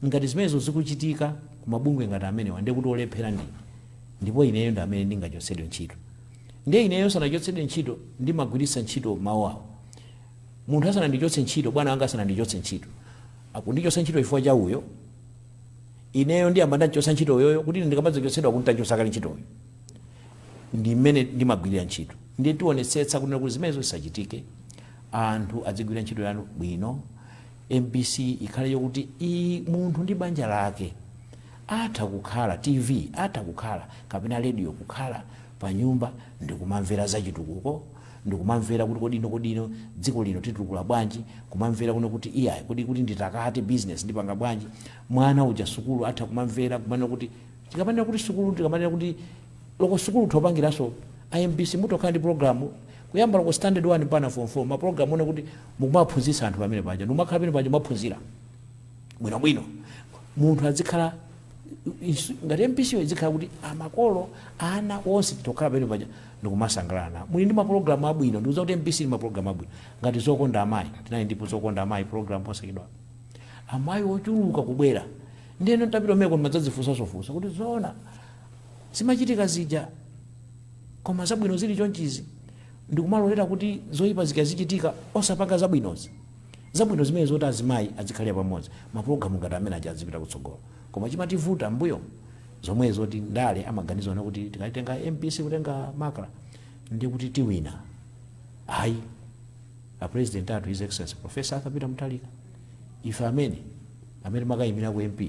S2: Ngati zimenezo zikuchitika ku mabungwe ngati amenewa ndiye kuti olephera ndine ndipo ineyo ndi amene ndingachotsedwe ntchito. Ndiye ineyo ndisanachotsedwe ntchito ndimagwiritsa ntchito mawu awa, Munthu asanandichotse ntchito, bwana wanga asanandichotse ntchito, akundichotsa ntchito chifukwa cha uyo, ineyo ndiyamba ndamchotsa ntchito uyoyo kuti ine ndikamadzachotsedwa akhale nditamchotsa kale ntchito uyu. Ndi mmene ndimagwirira ntchito. Ndiye tionetsetsa kunena kuti zimenezo zisachitike, anthu adzigwira ntchito yanu bwino. Mbc ikhale yokuti munthu ndi banja lake atha kukhala, TV atha kukhala kapena radio kukhala panyumba ndikumamvera za chitukuko, ndikumamvera kuti kodi ino kodi ino dziko lino titukula bwanji, kumamvera kuno kuti iyayi kodi kuti nditakate business ndipanga bwanji, mwana uja sukulu atha kumamvera kumanena kuti tikamanena kuti sukulu tikamanena kuti loko sukulu utha kupangiranso a Mbc mutha kukhala ndi program Kuyambira ku standard 1 mpaka form 4 ma program onena kuti mukumawaphunzitsa anthu pamene paja ndikumakhala pamene paja kumaphunzira bwino bwino munthu adzikhala ngati MBC yo idzikhala kuti amakolo ana onse titokhala pamene paja ndikumasangalala nawo muli ndi ma program abwino ndikuuzani kuti MBC ili ndi ma program abwino ngati zokonda amayi tinali ndi pa zokonda amayi program posachedwa amayi ochuluka kubwera ndiyeno tapita meko mumadzadzifunsa zofunsa kuti zoona zimachitika zija koma zabwino zili chonchizi ndikumalolera kuti zoyipa zikazichitika osapanga zabwinozi zabwino zimene zoti azimayi azikhalira pamodzi mapulogalamu ngati amene aja azipita kutsogolo koma chimativuta mbuyo zomwe zoti ndale amaganiza kunena kuti tikatenga mbc kutenga macra ndiye kuti tiwina ayi a president athu his excellency professor arthur peter mutharika ife amene amene timakayimira u mp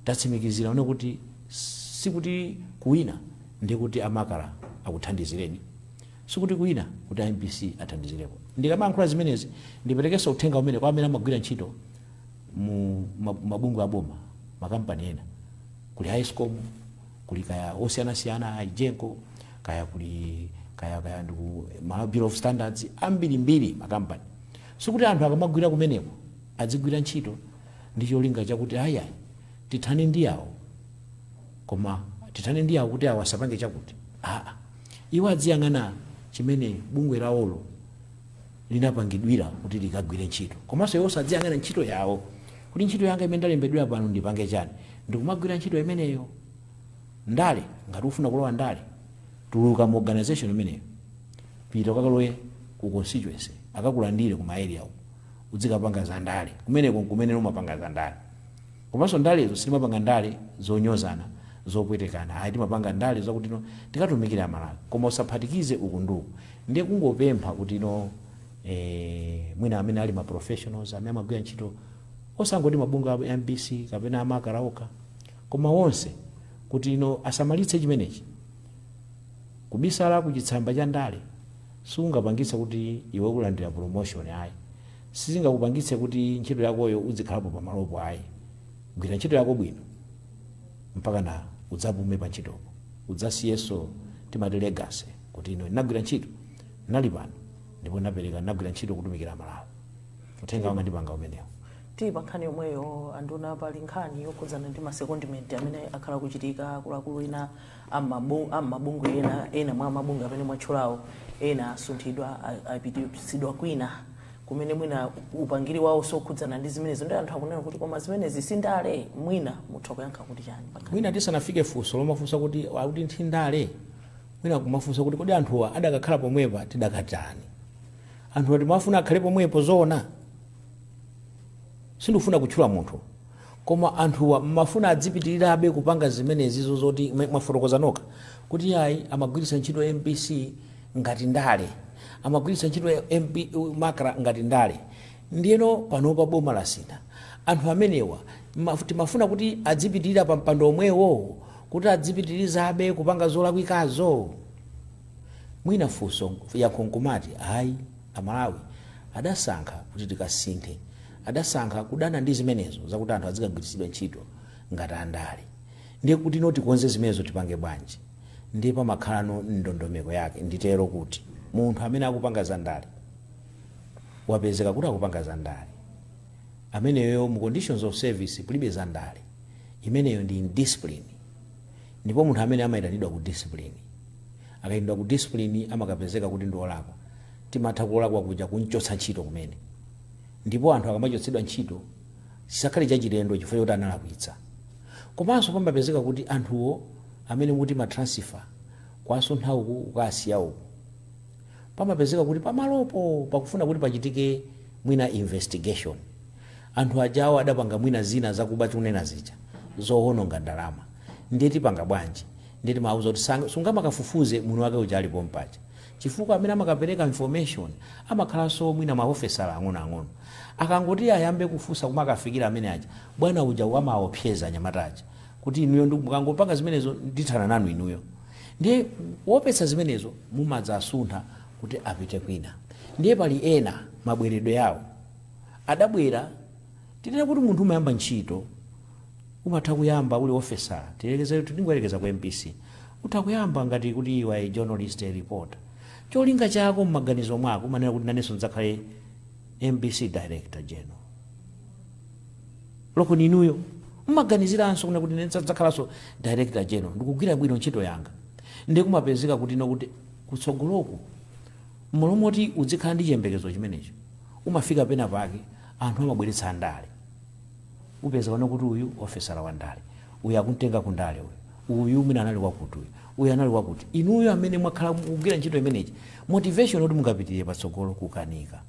S2: Tatsimikizira kunena kuti sikuti kuwina ndiye kuti a Macra akuthandizireni, sikuti kuwina kuti a mbc athandizireko. Ndikamayankhula zimenezi ndiperekenso uthenga umenewu kwa amene amagwira ntchito mu ma- mabungwe a boma, makampani ena, kuli a Escom, kuli kaya osiyanasiyana a Egenco, kaya kuli kaya kaya ndi ku Malawi Bureau of Standards, ambirimbiri makampani. Sikuti anthu akamagwira kumeneko Adzigwira ntchito ndi cholinga chakuti ayi ayi tithane ndi awo koma tithane ndi awo kuti awo asapange chakuti aa. Iwo adziyang'ana chimene bungwe lawolo linapangidwira kuti likagwire ntchito. Komanso iwo adziyang'ana ntchito yawo kuti ntchito yanga imene ndalembedwera pano ndipange chani. Ndikumagwira ntchito imeneyo. Ndale, ngati ukufuna kulowa ndale, tuluka mu organisation imeneyo pita ukakalowe ku constituency akakulandire ku ma area uko. udzikapanga za ndale. Kumeneko n'kumene umapanga za ndale. Komanso ndalezo sitimapanga ndale zonyozana, zopwetekana ayi. Timapanga ndale zakuti tikatumikire Amalawi. Koma usaphatikize uku ndi uku. Ndiye kungopempha kuti mwina amene ali ma professionals, amene amagwira ntchito osangoti mabungwe a mbc kapena a Macra okha koma onse kuti asamalitse chimenechi. Kubisala kuchitsamba cha ndale. siingapangitse kuti iwe ulandira promotion ayi, sizingakupangitse kuti ntchito yakoyo udzikhalapo pamalopo ayi, gwira ntchito yako bwino mpakana udzapume pa ntchitopo, udzasiyenso timati legacy kuti ine ndinagwira ntchito, ndinali pano ndipo ndinapereka, ndinagwira ntchito kutumikira amalawi, uthenga wanga ndipanga umenewo. Tili pa nkhani
S3: yomweyo anduna pali nkhani yokhudzana ndi ma secondment amene akhala akuchitika akuluakulu ena amabu- amabungwe ena ena mwa mabungwe amene mwatchulawo ena asunthidwa a- apititsidwa kwina kumene mwina upangiri wawo sokhudzana ndi zimenezo ndi anthu akunena kuti koma zimenezi sindale mwina mutha kuyankha kuti chani mwina
S2: tisanafike funso lomafunsa kuti kodi ndi ndale mwina kumafunsa kuti kodi anthuwa adakakhala pomwepa tidakatani anthuwa timafuna akhale pomwepo zoona sindikufuna kutchula munthu Koma anthuwa mmafuna adzipitilirabe kupanga zimenezizo zoti mwafotokoza nokha kuti ayi amagwiritsa ntchito mbc ngati ndale amagwiritsa ntchito mb macra ngati ndale ndiyeno panopa boma lasintha anthu amenewa mmaf timafuna kuti adzipitilira pa mpando omwewo kuti adzipitilizabe kupanga zolakwikazo? Mwina funso yankho nkumati ayi. Amalawi adasankha kuti tikasinthe. Adasankha kudana ndi zimenezo zakuti anthu adzikagwiritsidwa ntchito ngati andale. Ndiye kuti ife tikonze zimenezo tipange bwanji? Ndiye pamakhalano ndondomeko yake. Nditero kuti munthu amene akupanga za ndale wapezeka kuti akupanga za ndale, ameneyo mu conditions of service kulibe za ndale. Imeneyo ndi indiscipline. Ndipo munthu amene amaitanidwa ku discipline. akaitanidwa ku discipline amakapezeka kuti ndi olakwa timatha kulakwa kuja kumchotsa ntchito kumene ndipo anthu akamachotsedwa ntchito chisakhale chachilendo chifukwa choti analakwitsa komanso pamapezeka kuti anthuwo amene mukuti ma transfer kuwasuntha uku kukasiya uku pamapezeka kuti pamalopo pakufuna kuti pachitike mwina investigation anthu ajawo adapanga mwina zina zakuba tikunena zija zowononga ndalama ndiye tipanga bwanji Ndiye timawauza kuti sang, sungamakafufuze mwini wake uja ali pompaja chifukwa amene amakapereka information amakhalanso mwina ma ofesala ang'onoang'ono. Akangoti ayambe kufunsa kumakafikira amene aja, bwana uja wamawaopseza anyamata aja kuti inuyo ndi, mukangopanga zimenezo ndithana nanu inuyo. Ndiye kuopetsa zimenezo mumadzawasuntha kuti apite kwina. Ndiye pali ena mabweredwe yawo adabwera, tinene kuti munthu umayamba ntchito, Umatha kuyamba uli ofesala, tiyerekeze, tingoyerekeza ku mbc, utha kuyamba ngati kuti you are a journalist, a reporter. Cholinga chako mmaganizo mwako umanena kuti nanenso ndidzakhale mbc director general. Lokoni inuyo mmaganiziranso kunena kuti nanenso ndidzakhalanso director general, ndikugwira bwino ntchito yanga. Ndiye kumapezeka kuti no kuti kutsogoloku mmalo moti udzikhala ndi chiyembekezo chimenecho, umafika pena pake anthu amabweretsa ndale. Upeza ana kuti uyu ofesala wa ndale, uyu akumtenga ku ndale uyu, uyu mwina anali wakuti uyu, uyu anali wakuti. Inuyo amene mwakhala mukugwira ntchito imeneyi, motivation yoti mungapitirire patsogolo kukanika.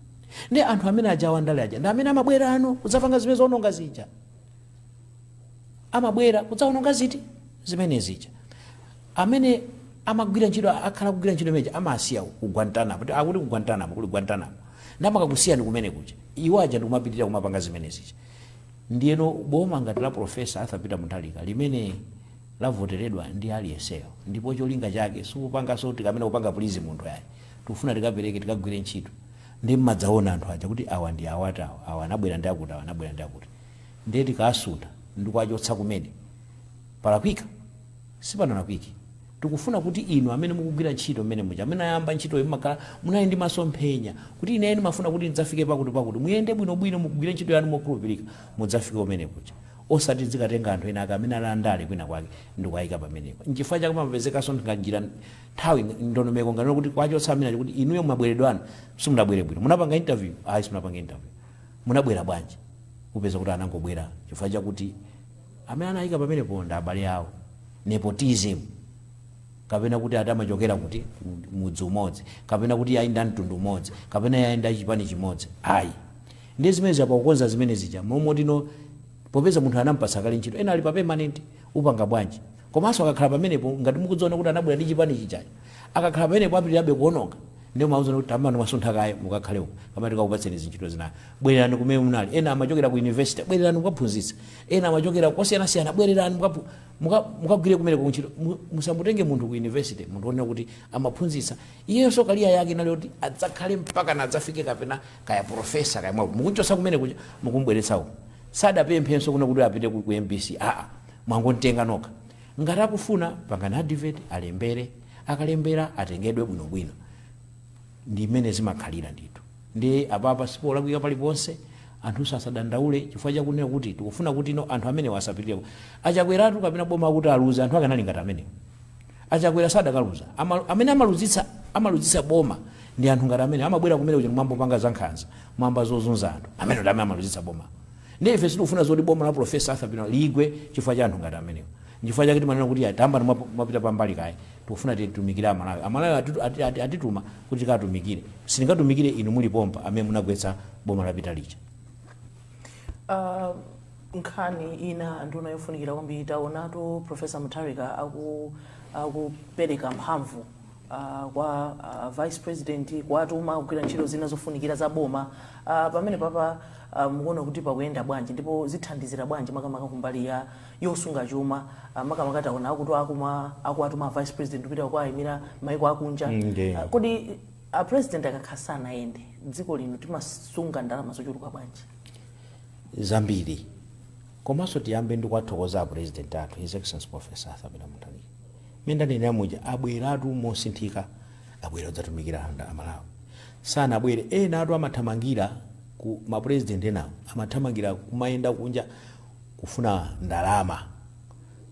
S2: Ndiye anthu amene aja a wandale aja ndi amene amabwerano kudzapanga zimene zoononga zija. Amabwera kudzaononga ziti? Zimene zija. Amene amagwira ntchito akhala akugwira ntchito imeneja amawasiya ku Guantanamo, akuti ku Guantanamo kuli Guantanamo, namakakusiyani kumene kuja iwo aja ndikumapitirira kumapanga zimene zija. Ndiyeno boma ngati la Professor Arthur Peter Mutharika limene lavoteredwa ndi aliyenseyo ndipo cholinga chake sikupanganso tikamene kupanga please munthu ayi, tikufuna tikapereke tikagwire ntchito ndiye mmadzaona anthu aja kuti awa ndi awati awa, awa anabwera ndi akuti, awa anabwera ndi akuti ndiye tikaasuntha ndikuwachotsa kumene palakwika? Sipanalakwike. Tikufuna kuti inu amene mukugwira ntchito mmene muja, amene ayamba ntchitoyi mumakhala munali ndi masomphenya kuti ineyo ndimafuna kuti ndidzafike pakuti pakuti. Muyende bwino bwino mukugwira ntchito yanu mokhulupirika mudzafike kumene kuja. Osati tidzikatenga anthu ena ake amene ali andale kwina kwake ndikuwayika pamenepo. Nchifukwa chake pamapezekanso nga njira nthawi ndondomeko ngati kuti kuwachotsa amene aja kuti inuyo mabweredwe anu simunabwere bwino. Munapanga interview? Ayi simunapanga interview. Munabwera bwanji? Upeza kuti anangobwera chifukwa chakuti. Amene anayika pamenepo ndi abale awo, nepotism, kapena kuti ati amachokera kuti, ku mudzi umodzi, kapena kuti ayi ndi a mtundu umodzi, kapena ayi ndi a chipani chimodzi, ayi. Ndiye zimenezo pakukonza zimene zija, mmalo moti no, popeza munthu anamupatsa kale ntchito, ena ali pa permanent, upanga bwanji? Komanso akakhala pamenepo, ngati mukudziona kuti anabwera ndi chipani chijacho, akakhala pamenepo apitirirabe kuononga, ndiye mumawauza kuti tamani mwasuntha kaye mukakhale uko, kapena tikakupatseni zintchito zina, bwererani kumene munali ena amachokera ku university bwererani mukaphunzitse ena amachokera kosiyanasiyana bwererani mukapu- muka- mukagwire kumene kuntchito Mu- musamutenge munthu ku university munthu onena kuti amaphunzitsa iyenso kaliya yake inali kuti adzakhale mpaka na adzafike kapena kaya profesa kaya mwaku mukuchotsa kumene kuja mukumbweretsa uko sadapemphenso kunena kuti apite ku ku mbc aa mwangomutenga nokha ngati akufuna pangani advert, alembere akalembera atengedwe bwinobwino ndi mmene zimakhalira ndithu nde apapa sipolakwika paliponse anthunso asadandaule chifukwa chakunena kuti tikufuna kuti no anthu amenewa asapitireko a Chakweratu kapena boma kuti aluze anthu akanakhala ngati amenewo a Chakwera sadakaluza Ama- amene amaluzitsa amaluzitsa boma ndi anthu ngati amene amabwera kumene kuja kumangopanga zankhanza mwamba zozunza anthu amene ndi amene amaluzitsa boma ndi ife sitikufuna zoti boma la profesa arthur peter ligwe chifukwa cha anthu ngati amenewo nchifukwa chake timanena kuti tambamwapita pambali kaye Tikufuna titumikire a Malawi. A Malawi atitu, ati, ati, atituma kuti tikatumikire. Sitingatumikire inu muli pompa amene munagwetsa boma lapita lija. Uh,
S3: nkhani ina nduna yofunikira kwambiri taonatu profesa mutharika aku akupereka mphamvu uh, kwa uh, vice president kuwatuma kugwira ntchito zina zofunikira za boma uh, pamenepapa uh, mukuona kuti pakuyenda bwanji ndipo zithandizira bwanji makamaka kumbali ya yosunga chuma ah, makamaka taona akuti akuma akuwatuma a vice president kupita kukawaimira maiko akunja Mm, ndiye. Ah, kodi a president akakhala sanayende dziko lino timasunga ndalama zochuluka bwanji
S2: zambiri komanso tiyambe ndi kuwathokoza apurezidenti athu his excellency professor arthur peter mutharika mmene ndanenera muja abweratu mosinthika abwera kudzatumikira anthu a malawi sanabwere enawatu amathamangira ku mapurezidenti enawo amathamangira kumayenda kunja kufuna ndalama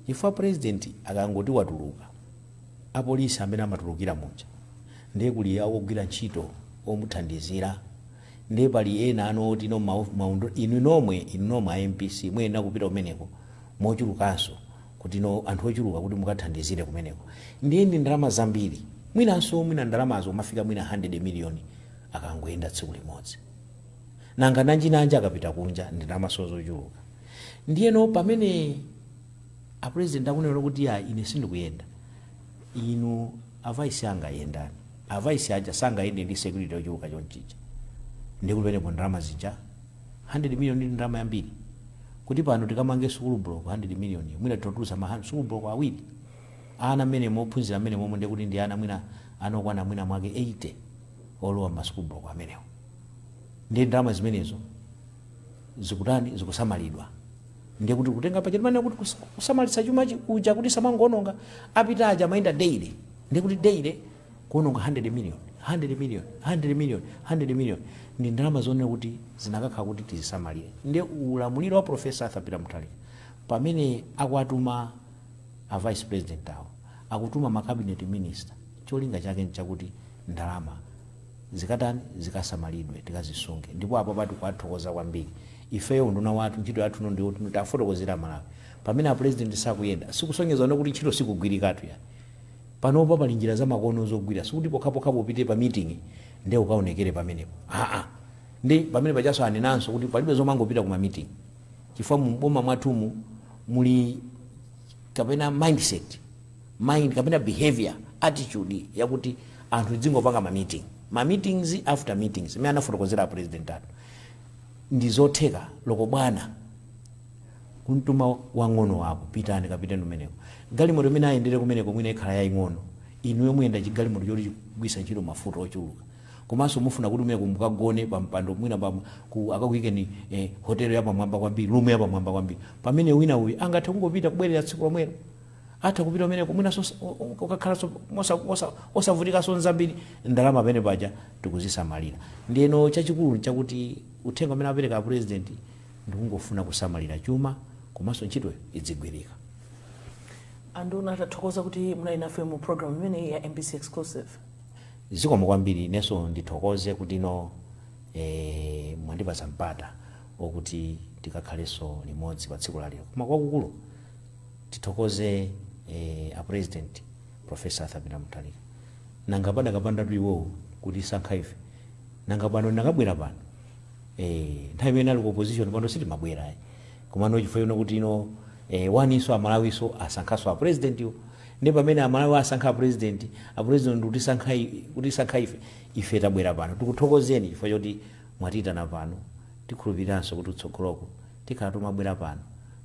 S2: chifukwa president akangoti watuluka apolisi amene amatulukira muja ndiye kuli ogwira ntchito omuthandizira ndiye pali ena ano oti no ma, ma, inu nomwe inu nomwe a MBC muyenera kupita kumeneko mochulukanso kuti no anthu ochuluka kuti mukathandizire kumeneko ndiye ndi ndalama zambiri mwinanso mwina ndalamazo kumafika mwina 100 million akangoyenda tsiku limodzi Nanga nanjinanji akapita kunja ndi ndalamanso zochuluka. Ndiyeno pamene a president akunena kuti iyayi ine sindikuyenda, inu a vice anga yendani. A vice aja sangayende ndi security yochuluka chomchija. Ndiye kuti penepo ndalama zija 100 million ndi ndalama yambiri. Kuti pano tikamange sukulu block 100 million yo mwina timatulutsa ma han, sukulu block awiri. Ana mmenemo ophunzira mmenemomo ndiye kuti ndi ana mwina, ana okwana mwina mwake 80 olowa mma sukulu block amenewo. ndiye ndalama zimenezo zikutani zikusamalidwa ndiye kuti kutenga paja timanena kuti kus- kusamalitsa chuma chi- uja kuti samangoononga apita aja amayenda daily ndiye kuti daily kuononga 100 million 100 million 100 million 100 million ndi ndalama zonena kuti zinakakhala kuti tizisamalire ndiye ulamuliro wa profesa arthur peter mutharika pamene akuwatuma a vice president awo akutuma ma cabinet minister cholinga chake nchakuti ndalama zikatani zikasamalidwe tikazisunge ndipo apapa tikuwathokoza kwambiri ifeyo unduna wathu ntchito yathu no ndiyoti no tafotokozera amalawi pamene apulezidenti sakuyenda sikusonyeza no kuti ntchito sikugwirikatu ya panopo pali njira zamakono zogwira sikuti pokhapokhapo upite pa meeting nde ukaonekere pamenepo aa ndi pamene paja so anenanso kuti palibe zomangopita ku ma meeting chifukwa mu boma mwathumu muli kapena mindset mind kapena behavior, attitude yakuti anthu tidzingopanga ma meeting, ma meetings after meetings mmene anafotokozera a president athu ndi zotheka loko bwana kumtuma wang'ono wako pitani kapiteni kumeneko galimoto imene ayendere kumeneko mwina ikhala yaing'ono inuyo muyenda chigalimoto choti chigwisa ntchito mafuta ochuluka komanso mufuna kuti kumeneko mukagone pa mpando mwina pa, ku, akakuyikeni eh, hotel yapamwamba kwambiri room yapamwamba kwambiri pamene wina uyu angathe kungopita kubwerera tsiku lomwelo atha kupita kumeneko mwinanso os- o- o- ukakhalanso mosa- mosa- osavutikanso nzambiri ndalama pamene paja tikuzisamalira ndiyeno chachikulu nchakuti uthenga umene apereka apurezidenti ndikungofuna kusamalira chuma komanso ntchito idzigwirika
S3: anduna tathokoza kuti munali nafe mu programu imeneyi ya mbc exclusive
S2: zikomo kwambiri inenso ndithokoze kuti no eh, mwandipatsa mpata okuti tikakhalenso limodzi pa tsiku lalero koma kwakukulu tithokoze eh, a president professor arthur peter mutharika nanga padakapandatu iwowo kutisankha ife nanga pano ndakabwera pano eh, nthawi imene ali ku opposition pano sitimabwera ayi komano chifukwa choti no eh, waninso amalawiso asankhaso a president yo ndi pamene amalawi asankha a president a president ndi kutisankha i- kutisankha ife ife tabwera pano tikuthokozeni chifukwa choti mwatiyitana pano tikhulupiriranso kuti utsogoloko Tikhala tumabwera pano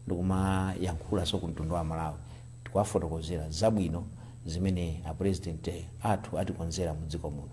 S2: ndikumayankhula so ku mtundu wa amalawi tikuwafotokozera zabwino zimene a president athu atikonzera mu dziko muno.